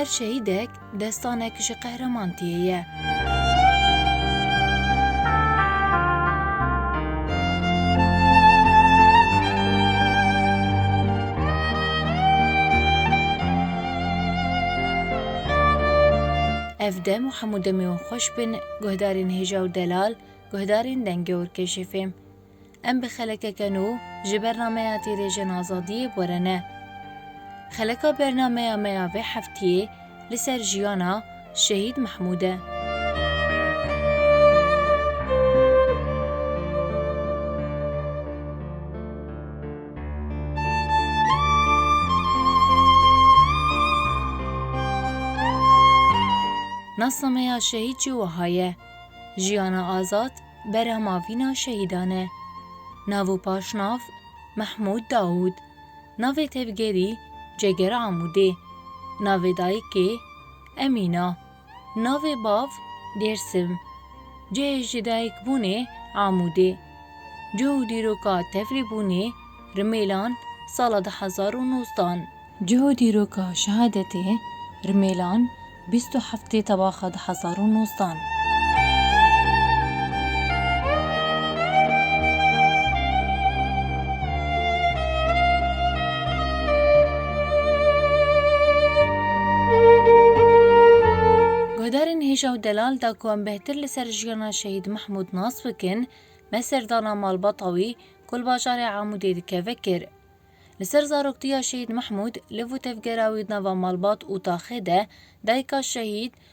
Her şehîdek destanek ji qehreman tiyê ye. Ev dem û hemû demê wan xweş bin. Guhdarên hêja û delal, guhdarên dengê û rkêşê fêm. Em bi xelekeke nû ji bernameya Tîrêjen Azadiyê bore ne. Xeleka bernameya me ya vê heftiyê li ser jiyana Şehîd Mehmûd e. Nasnameya şehîd jî wiha ye, Jiyana azad berhema vîna şehîdan e. Nav û paşnav, Mehmûd Dawûd. Navê tevgerî, Ceger Amûdê. Navê dayikê, Emîna. Navê bav, Dêrsim. Cihê jidayîkbûnê, Amûdê. Cih û dîroka tevlîbûnê, Rimêlan, sala du hezar û nozdan. Cih û dîroka şehadetê, Rimêlan, bîst û heftê tebaxa du hezar û nozdan. Guhdarên hêja û delal da ku em bêhtir li ser jiyana Şehîd Mehmûd nas bikin, me serdana malbata wî ku li bajarê Amûdê dikeve kir. Li ser zaroktiya Şehîd Mehmûd, liv û tevgera wî di nava malbat û taxê de, dayika Şehîd,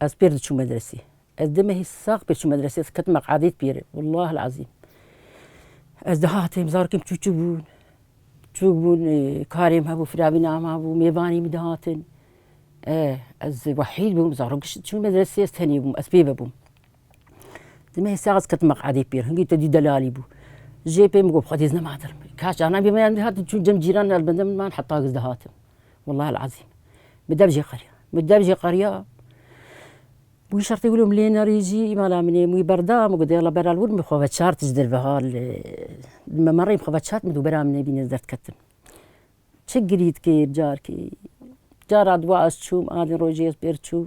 Ez pêr diçûm medresê. Ez dê mehî sax pêr çûm medresê, ez ketim eqedît pêre. Wellahil ezîm. Ez dihatim, zarokêm çû çû bûn. Çûk bûn, karêm hebû, firavîna em hebû, mêvanî min dihatin. Ez wehîd bûm, zarok diçûn medresê, ez tenê bûm, ez pê vebûm. Demê hêsê ez ketim meqedê pêr, hingî te dî delalî bû. Jê pê min got xwedî ez nematir. Kaş canan bî me yan dihatin çûn cem cîran li bendê min man heta giz dihatin. Wallahil ezîm. Min dev jê qeriya. Min dev jê qeriya Wî şertê wilo min lê nerî jî îmala min ê wî berda min got yala beral wir min xwe veçart ji derve hat li me merê min xwe veçart min dûbera min nebîne ez derdketim. Çi girît kê carkê. Cara dûwa ez çûm a din rojê ez pêr çûm.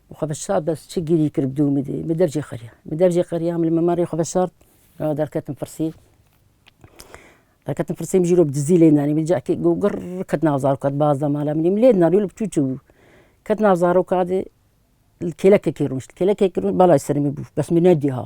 Xwe bi sar de çi gîrî kir bi dû min dî. Min dev jê qeriya. Min dev jê qeriya min li memarê xwe vesart. Ew derketin firsî. Derketin firsî min jî îro bi dizî lê danî. Min cihekê got girr ket nav zaroka di baz de mala min î. Min lê danî wilo bi çû çû bû. Ket nav zaroka de li kêlekekê rûnişt. Kêlekekê rûnişt balayê serê min bû. Bes min nedî ha.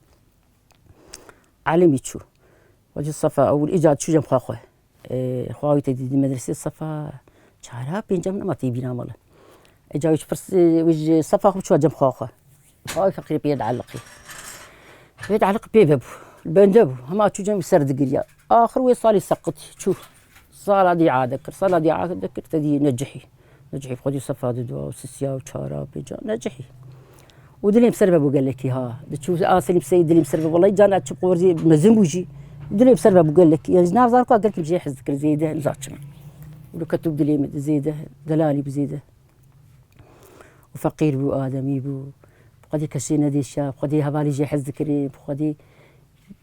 Alimî çû. Wa ji sefa ewil îcar çû cem xwe xwe. Xwe awî te dîdî medresê sefa çara pêncem nema tê bîna mala. Îcar wî ji pirs wî ji sefa xwe çû cem xwe xwe. Xwe awî feqîrê pê yed eliqî. Yed eliqî pê vebû. Li bende bû. Hema çû cem wî ser digiriya. Axir wê salî seqitî çû. Sala dîa dikir, sala dîa dikir te dî necihî. Necihî xwedî sefa didu û sisiya û çara û pêca necihî. Û dilê ser ve bû gelekî ha. Diçû asilî piseyî dilê ser ve welay cana çi qorzî mezin bû jî. Dilê ser ve bû gelekî. Yani nav zar ka gelkî jê hez dikir zêde him zaçim. Û li ketû dilê min zêde delalî bû zêde. Û feqîr bû ademî bû. Xwedî kesê nedêşiya, xwedî hevalî jê hez dikirî, xwedî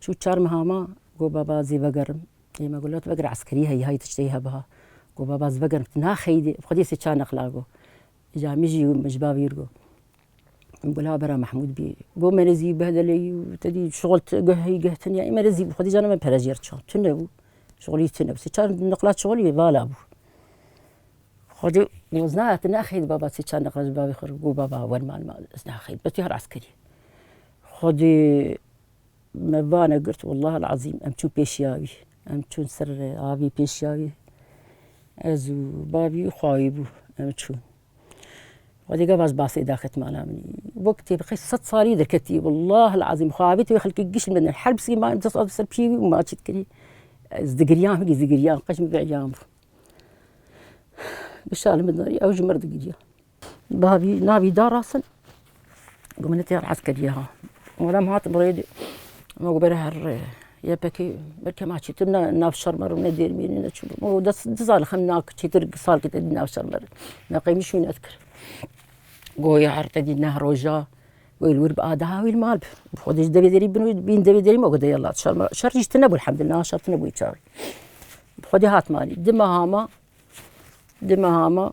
Çû çar meha ma, got baba zî vegerim. Yê me got lewt vegir eskerî heyî hay tiştê hebe ha. Got baba ez vegerim tu naxeyî dê xwedî sê çar neqla got. Îca min jî min ji bavê wî re got. Min got la bera Mehmûd bî. Got me re zî behdele yî û te dî şixul geh heyî geh tune yî. Me re zî xwedî cana me pere jê re çix tune bû. Şixulî tune bû. Sê çar neqla şixul yê vala bû. Xwedî got ez naxeyî tu naxeyî dê baba sê çar neqla ji bavê xwe re got baba wer malima ez naxeyî dê betî her eskerî. Xwedî Me vane girt welleh el ezîm em çûn pêşiya wî em çûn ser avî pêşiya wî ez û bavî û xwe bû em çûn. Xwedî gava ez basê daxit mala min wek têbixê sed salî derketî welleh el ezîm xwe avê tê wê xelkê giş min her bi sîman du sal bi ser piyê wî û ma çî dikirî ez digiriyan wekî zigiriyan qey ji min veheriyan bû. Bi şali min de ew ji mir digiriya. Bavî navî da rasin ku min netiya hez kiriye ha. Were em hatin rê dî ma ku bere her rê yepekê belke ma çêtir ne nav şer me re ne dêr mêrî ne çi ma ku des du sal xem na çêtir salkê te dî nav şer me re. Me qeyimî şûnet kir. Goya her te dî neh roja wêl wir bi ada ha wîl mal bi. Bi xwe dê ji devê derî bin wî bin devê derî ma ku de yala şer me şer jî ji te nebû elhemdulillah niha şer tune bûye çaxê. Bi xwedê hat malê dima hama dima hama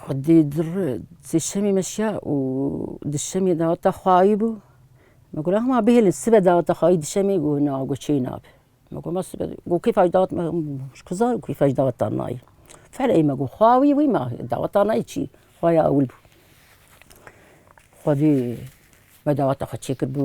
Xwedî dir sê şemê meşiya û di şemê daweta xwe ayî bû. Me got hema bihêlin sibe daweta xwe ayî di şemê got na got çêyî nabe. Me got ma sibe got kêfa jî dawet ji ku zanîm kêfa jî dawetan nayê. Fereyê me got xwe awî wî ma dawetan nayê çî xwe ya ewil bû. Xwedî me daweta xwe çêkir bû.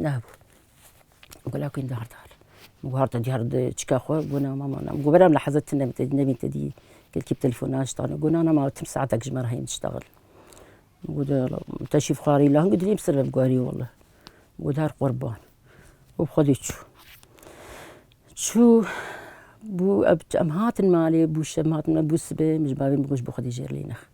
Nabû. Gula ku diyar diyar. Min got harde diyar di çika xwe gona mama na. Min got bera min li heze tune min tê nebîn te dî kelkî bi telefona ji dana. Gona na ma tim saetek ji me re heye min diştexile. Min got wela min te şîv xwarî la hingî dilê min ser ve bigwarî wela. Min got her qurban. Û bi Xwedê çû. Çû bû em hatin malê bû şem hatin malê bû sibê min ji bavê min got ji bo Xwedê jêr lê nexe.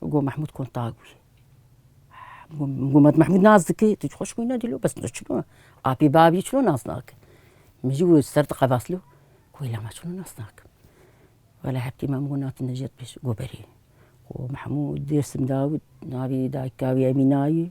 Got Mehmûd kontag wî. Got me tu Mehmûd nas dikî? Tu ji xwe ji wî nedî lo bes tu çi bo? Apî bavî çi lo nas nake? Min jî got ser diqevas lo. Got îla me çi lo nas nakim. Wela heptî me min got na tu ne ji hev pêş got berê. Got Mehmûd Dêrsim Dawid navê dayika wî Emîna ye.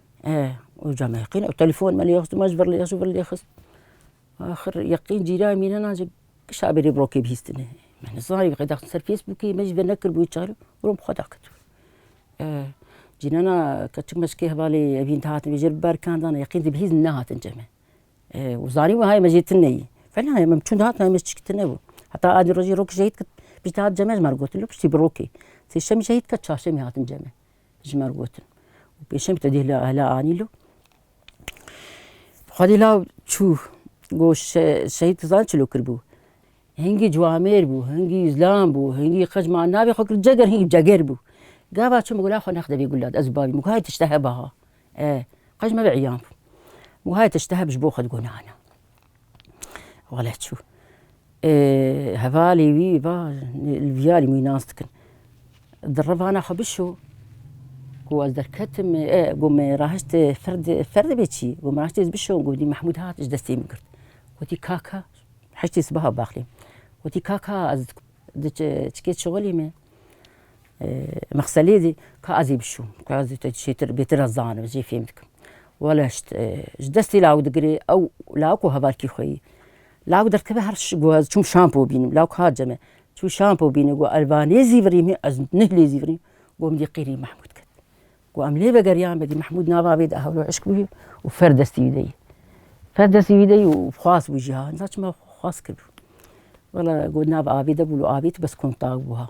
Eeh û ca me yekîn û telefon me lê xist û me ji vir lê xist û vir lê xist. Axir yekîn cîranê mîna na ji kişa berê bi rokê bihîstinê. Me nizanî wê qedaxin ser fêsbûkê me jî vê nekiribûyî çare û wan bi xwe da ket. Eeh cînena keçik meçikê hevalê evîn dihatin vê jê re biberkan dana yekîn dibihîz nehatin ceme. Eeh û zanîn wê hayê me jê tune yî. Fena ye me bi çûn dihat me ji çikî tune bû. Heta adê rojê rok ji heyît ket piştî hat ceme ji me re gotin lû piştî bi rokê. Sêşemî ji heyît ket çarşemî hatin ceme. ji me re gotin û pêşeng te dê hila anî lo. Xwedî law çû got şehîd tu zanî çilo kiribû. Hingî ciwamêr bû, hingî îzlam bû, hingî qij ma navê xwe kir ceger hingî ceger bû. Gava çû min got la xwe nexde vê gula de ez û bavê min got hay tişte heba ha. E qij me ve îyan bû. Min got hay tişte hebe ji bo xwe digonana. Wale çû. Hevalê wî va li viyarî wî nas dikin. Di rivana xwe bişo ku ez derketim ku me rahişt fer dibê çî ku me rahişt bişo ku dî Mehmûd hat ji destê min girt. Wotî kaka heştê sibeha baxlê wotî kaka ez diçe çikê şixulê me Mexselê zî ka ez ê bişo, ka ez te çêtir bêtir ez zanim, ez jê fêm dikim. Wele ji ji destê lawik digirê ew lawik û hevalkî xwe yî. Lawik derkeve her şi got ez çûm şampo bînim, lawik hat cem e. Çû şampo bîne got ez ba nê zî virîm hê ez neh lê zî virîm. Got min dî qîrî Mehmûd ket. Got em lê vegeriyan be dî Mehmûd nava vê de hewlo eşq bûye û fer destî wî de yê. Fer destî wî de yê û xwas bû jî ha. Niza çima xwas kirbû. Wele got nava avê de bû li avê tu bes kontak bû ha.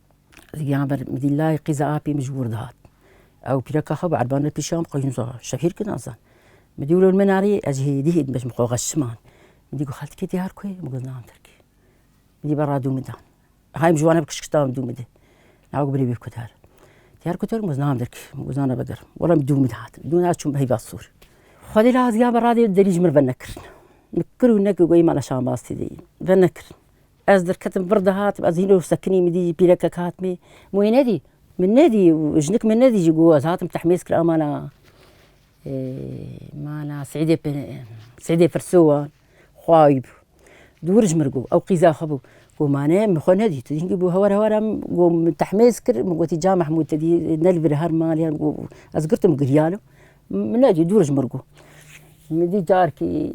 Giyan ber mdîlayê qîza apê min ji wir dihat. Ew pîreka xwe bi erban re pîşan xwe hîn zor şehîr kir nazan. Min dî wilo min arê ez ji hêdî hêdî bejim xwe xeşiman. Min dî got xeltikê diyar ku ye? Min got nan Tirkî. Min dî berra dû min dan. Hay min ji wan re bi kişkişta min dû min de. Nawe got birê wê ku der. Diyar ku der min got nan Tirkî. Min got nan eve gerim. Wela min dû min hat. Dû min hat çûm heyva sor. Xwedê laz giyan berra dê derî ji min re venekirin. Min kir û nekir goyê mala şambaz tê de yîn. Venekirin. Ez derketim vir dihatim ez hîno sekinî min dî pîrekek hat mê min wê nedî min nedî û jinik min nedî jî got ez hatim tehmêz kir amana mana Seîdê Seîdê Firsû wan xwayî bû dûr ji min bû ew qîza xwe bû got ma ne min xwe nedî tu hingî bû hewar hewar em got min tehmêz kir min gotî ca Mehmûd te dî ne li vir her malê ye got ez girtim giriyane min nedî dûr ji min bû min dî carkî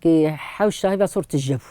kê hewş şahî ve sor tije bû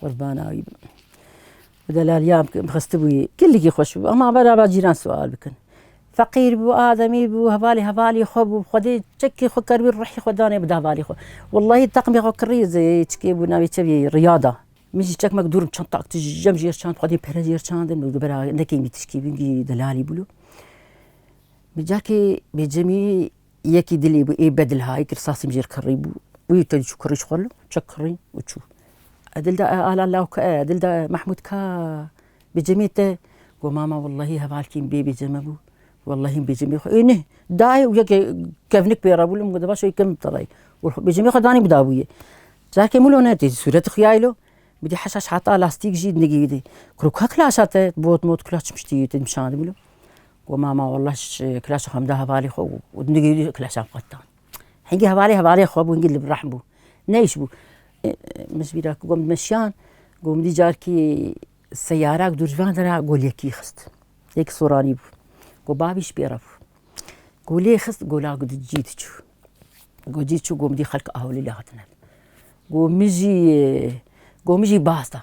Qurbana wî bim. Bi delaliya bikim xistibûyê. Kilikî xweş bû. Ema berava cîran sual bikin. Feqîr bû, ademî bû, hevalê hevalî xwe bû. Xwedê çekê xwe keribû ruhî xwe danê bi hevalê xwe. Wellahî teqmê xwe kirî çikê bû navê çi bî Riyada. Min jî çekmek dûr çantak tijem jêr çand xwedê pere jêr çand min got bera nekeyî mî tişkî bingî delalî bûlo. Bi cakê bêcemî Yekî dilê bû ê bedil hayî kir sasî mijêl kirrî bû û yê tedî çû kirrî ji xwe li çek kirrî û çû. Edil da e ala law ke e edil da e Mehmûd ka bi cemê te got mama wellehî hevalkîn bê bê ceme bû wellehîn bê cemê xwe ê neh dayê û yekê kevnik pê re bû li min got baş ê kevnik te dayê û bê cemê xwe danî bidabûyê. Careke min wilo netê sûret dixuyayê lo min dî heşaş hata lastîk jî nigihîdî. Kurok ka kila aşa te bot mot kila çi min şitî te nîşan dibû lo. Got mama wallah kilaça xwe min da hevalê xwe û nigihîjî kilaçan xwe ditan. Hingî hevalê hevalê xwe bû hingî li vir rehm bû. Neyş bû. Min ji bîra kir got min meşiyan got min dî carkî seyarak dû ji van re re got lêkî xist. Lêk soranî bû. Got bavî ji pê re bû. Got lê xist got la got cî diçû. Got cî çû got min dî xelk Awilî le hatine. Got min jî got min jî baz da.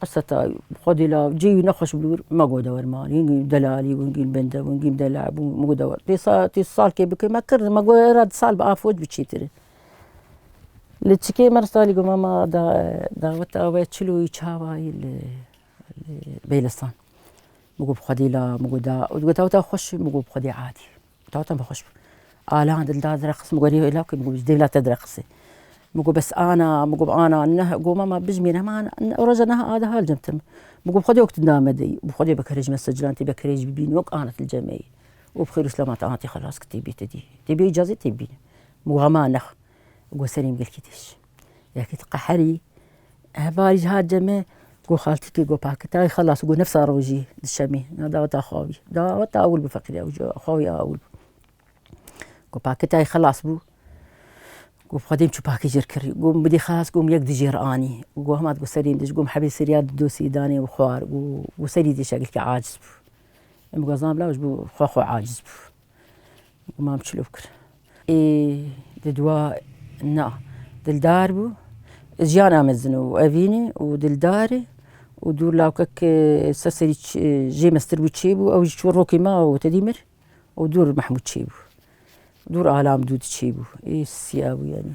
Qiseta xwedî la cî wî nexweş bû wir ma got dewr ma hîn gîn delalî hûn gîn bende hûn gîn dela bû ma got dewr tê sa tê sal kê bikir ma kirdim ma got ra di sal bi afoj bi çîtir in. Li çikê me ra salî got ma ma da daweta we çil û wî çawa yî li li bêlistan ma got bi xwedî la ma got da û di got daweta xweş ma got bi xwedî adî. Tata min xweş bû. Alan dildar direqis, min got rê law kê, min got ji dêvla te direqisê. Min got bes ana, min got ana neh, got mama bijimêre hema roja niha a diha li cem te me. Min got bi xwedê wek tu name deyî û bi xwedê wek herêj me ser cilan tê wek herêj bibîne wek ana tu li cem me yî û bi xêr û silama te ana tê xelas kir tê bî te dî tê bî icazê tê bibîne. Min got hema neh. Got serê min gelkî tê şişand. Yekî ti qeherî. Hevalî jî hat cemê got xaltikê got pakitayê xelas got nifsa rojî di şemî na daweta xawî. Daweta ewil bû feqîrê ew ji xawîya ewil bû. Got pakitayê xelas bû. Got bi xwe dêm çû pakî jêr kirî. Got min bidî xelas got min yek dijêr anî. Got hema digot serê min dij got min hebî sirya di dosî danê û xwar û got serî dij şeglekî aciz bû. Em bi xwe zan bila ji bo xwe xwe aciz bû. Mam çilop kir. Ê di dua na dildar bû. Jiyana me zin û evînê û dildarê û dû lawkek ser serî jê mestir bû çêbû ew jî çû rokê me û tedî mir û dûr Mehmûd çêbû. Dûr alam dû diçêbû. Ê siya bû yanî.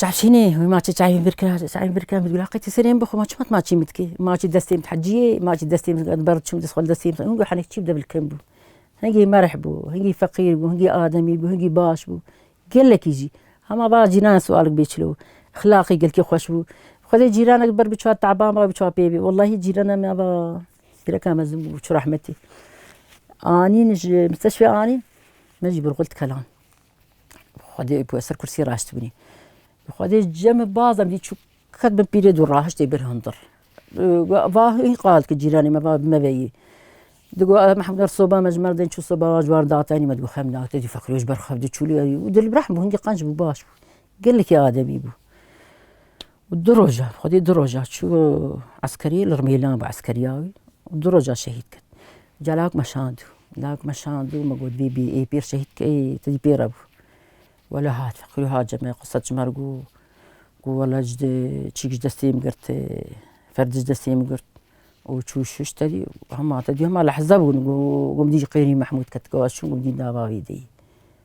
Çavşînê wî ma çê çayê min vir kira, çayê vir kira min got Gula qetî serê min bixwe ma çima tu ma çê min dikî? Ma çê destê min heciyê, ma çê destê min di ber diçûm dest xwe li destê min min got henê çi bide bil kin bû. Hingî merh bû, hingî feqîr bû, hingî ademî bû, hingî baş bû. Gelekî jî. Hema va cîranan siwalig bê çilo. Xilaqî gelkî xweş bû. Xwedê cîranek di ber bi çawa teban ba bi çawa pê bê. Wellahî cîrana me va gireka mezin bû çi rehmetî. Anîn ji misteşfê anîn min jî birxwe li dikelan. Xwedê ku ez ser kursî raştibûnî. Xwedê cemê bazem dî çû qet bin pîrê dû rahiştê bir hundir. Va hîn qal ki cîranê me va me veyî. Digo Mehmedar soba me ji me dên çû soba va ji war datenî me digo xem da te dî feqîrê ji ber xev dê çûlî û dil bi rehm bû hingî qenc bû baş bû. Gelekî ademî bû. û du roja xwedî du roja çû eskerî li rmîlan bû eskeriya wî û du roja şehîd ket ca lawik me şand û lawik me şand û me got bîbî ê pîr şehîd ke ê tu dî pê re bû wele hat xwî hat ji me qise çima got got wele ji de çîk ji destê min girt ferdî ji destê min girt û çû şûş te dî hema te dî hema lehze bûn got min dî qêrî mehmûd ket got ez çûm got min dî nava wî deyî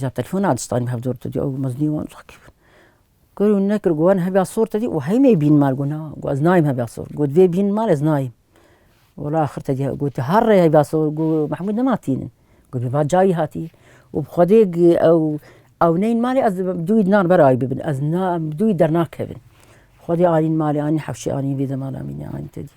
Ca telefona distanî bi hev dor te dî ew mezinî wan takîb in. Kir û nekir got wan hebiya sor te dî û heynê bîn mal got na got ez nayêm hebiya sor. Got vê bîn mal ez nayêm. Wala axir te dî got her rê hebiya sor got Mehmûd nema tînin. Got bêva ca wî hatî û bi xwedê ew ewneyên malê ez dibim dû wî dinan ber ayî bibin ez na dû wî dernakevin. Xwedê anîn malê anîn hewşê anîn vê demala mînê anîn te dî.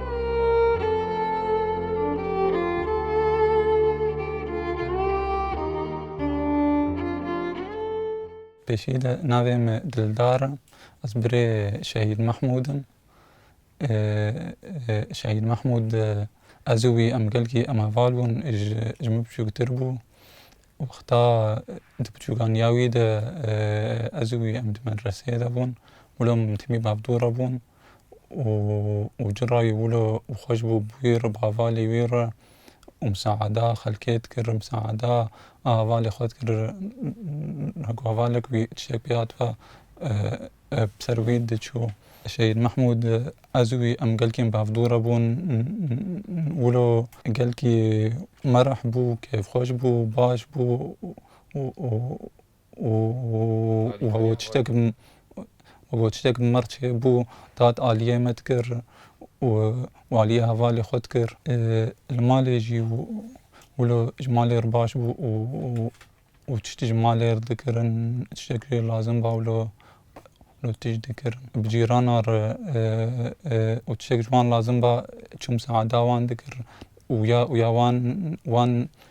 Pêşî de navê me Dildar e. Ez birê Şehîd Mehmûd im. Şehîd Mehmûd ez û wî em gelkî em heval bûn ji min biçûktir bû. Wexta di biçûkaniya wî de ez û wî em di medreseyê de bûn. Mûla min timî bavdû re bûn. û ci ra yî wilo û xweş bû wî re bi hevalê wî re û misaada xelkê dikir misaada a hevalê xwe dikir wek hevalek wî tiştek pê hat ve bi ser wî diçû. Şehîd Mehmûd ez û wî em gelkên bi hev dûr re bûn wilo gelkî merih bû kêfxweş bû baş bû û Babaçîtek merçê bû tat aliyê me dikir û aliyê hevalê xwe dikir. Li malê jî wilo ji malê re baş bû û tiştî ji malê re dikirin tiştek jê lazim ba wilo tişt dikirin. Bi cîranan re û tiştek ji wan lazim ba çûm seada wan dikirin û ya û ya wan wan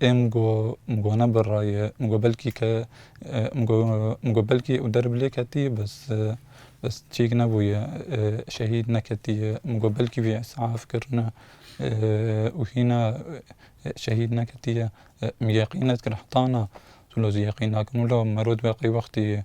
Ê min got, min got ne birra ye, min got belkî ke min got min got belkî û der bi lê ketî bes bes çêk nebûye şehîd neketiye, min got belkî wî îsaf kirine û hîna şehîd neketiye. Min yeqîn nedikir heta na, tu lo zî yeqîn nakin wilo mero di qey wextê ye.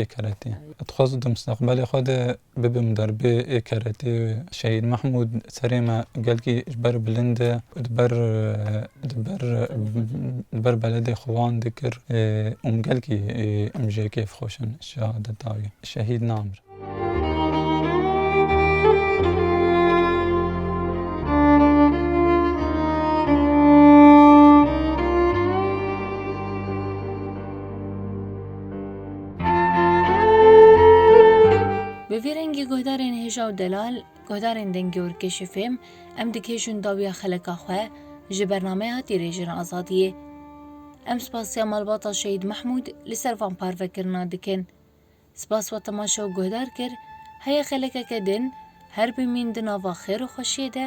ê keretê. Dixwest di mustaqbelê xwe de bibim derbê ê keretê. Şehîd Mehmûd serê me gelkî ji ber bilind e û di ber di ber di ber beledê xwe wan dikir û min gelkî em jê kêf xweş in. Şehadeta wî şehîd namir. Bi vî rengî guhdarên hêja û delal, guhdarên dengê û rikêşê fêm, em dikêşin dawiya xeleka xwe ji bernameyê hatî rêjin azadiyê. Em spasiya malbata Şehîd Mehmûd li ser van parvekirina dikin. Spas we temaşe û guhdar kir, heye xelekeke din, her bimîn di nava xêr û xweşiyê de,